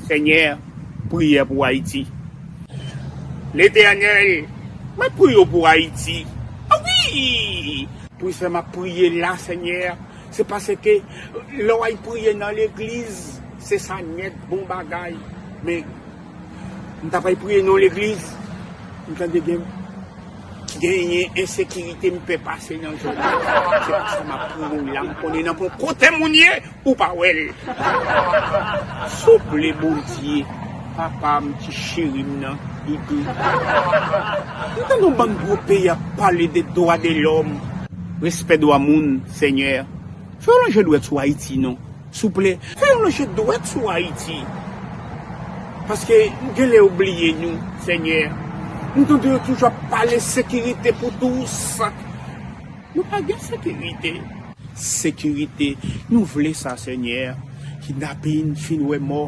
Senyè priyè pou ayiti. Letènèl mwen priye w pou ayiti wi. Wi sè map priye la senyè se paske lè w al priye nan legliz se sa nèt bon bagay men. M ta pral priye nan yon legliz m tande gen genyen ensekirite m pè pase nan zòn nan se pou sa map priye w la m konnen nan bon kote moun ye ou pa wè l souple bondye papa m ti cheri m nan doudou m tande yon bann gwo peyi ap pale de dwa de lòm. Respè dwa moun senyè fè yon lonje dwèt sou ayiti non. Souple, fè yon lòche dwèt sou Ayiti, paske nou genlè yo bliye nou, Senyè. Nou tande yo toujou ap pale sekirite pou tous. Nou pa gen sekirite. Sekirite, nou vle sa, Senyè. Kidnapin, fin wè mò.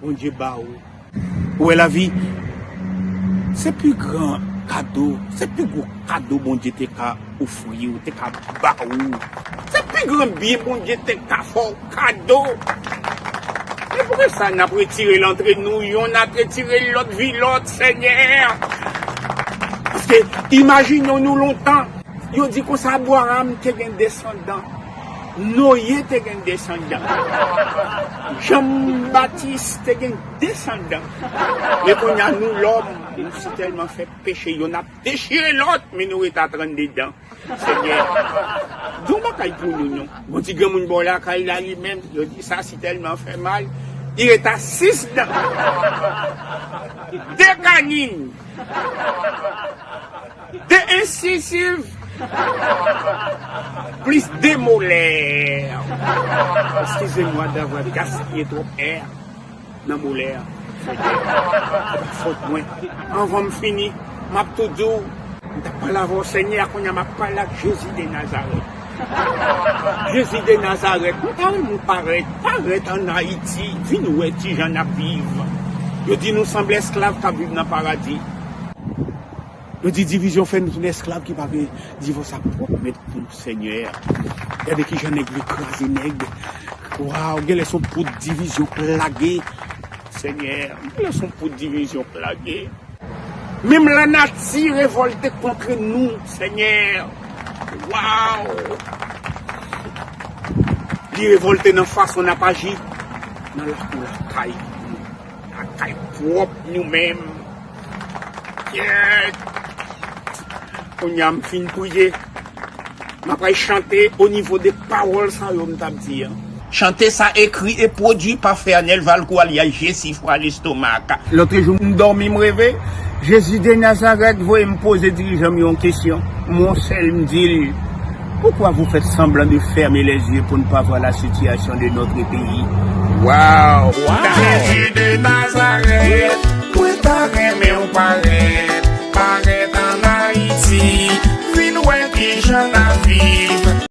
Bondye ba ou. Ou wè lavi se pi gran kado, se pi gwo kado Bondye te ka ofri ou, te ka ba ou. Se pi gran byen Bondye te ka fè ou kado. Se pou ki sa nap retire l antre nou, yonn ap retire l lòt vi lòt, Senyè. Paske imajine w nou lontan, yo di konsa Abwaram te gen desandan. Noye te gen desandan. Jan Batis te gen desandan. Men kounya nou lòm nou si tèlman fè peche yonn ap dechire lòt men nou ret a 32 dan. Senyè gen yon bagay pou nou non. Ou di granmoun bò lakay la li menm yo di sa si tèlman fè mal li ret a 6 dan. 2 kanin. De ensisiv plis de molè. Eskize mwa davwa gaspiye twòp è nan molè fè kè se pa fòt mwen anvan m fini map tou di w m tap pale avè w senyè a kounya map pale ak jezi de nazarèt jezi de nazarèt mwen ta renmen w parèt parèt an ayiti vin wè kijan nap viv yo di nou sanble esklav kap viv nan paradi. Yo di divizyon fè nou tounen esklav ki pa vle divòs ak pwòp mèt pou nou senyè a. Gade kijan nèg vle kraze nèg. Waw genlè son poud divizyon k lage senyè a. Genlè son poud divizyon k lage. Menm lanati revòlte kontre nou senyè a. Waw li revòlte nan fason n ap aji nan lakou lakay nou. Nan kay pwòp nou menm yeah kounye a m fin priye m apral chante o nivo de pawòl sa yo m t ap di an. Chante sa ekri e pwodui pa Fernel Valcourt alyas Jesifra Lestomak. Lòtrejou m dòmi m reve Jezi de Nazarèt voye m poze dirijan m yon kesyon m wonsèl m di l. Pourquoi vous faites semblant de fermer les yeux pour ne pas voir la situation de notre pays? Wow! Jésus de Nazareth, mwen ta renmen ou parèt, parèt an Ayiti, vin wè kijan nap viv.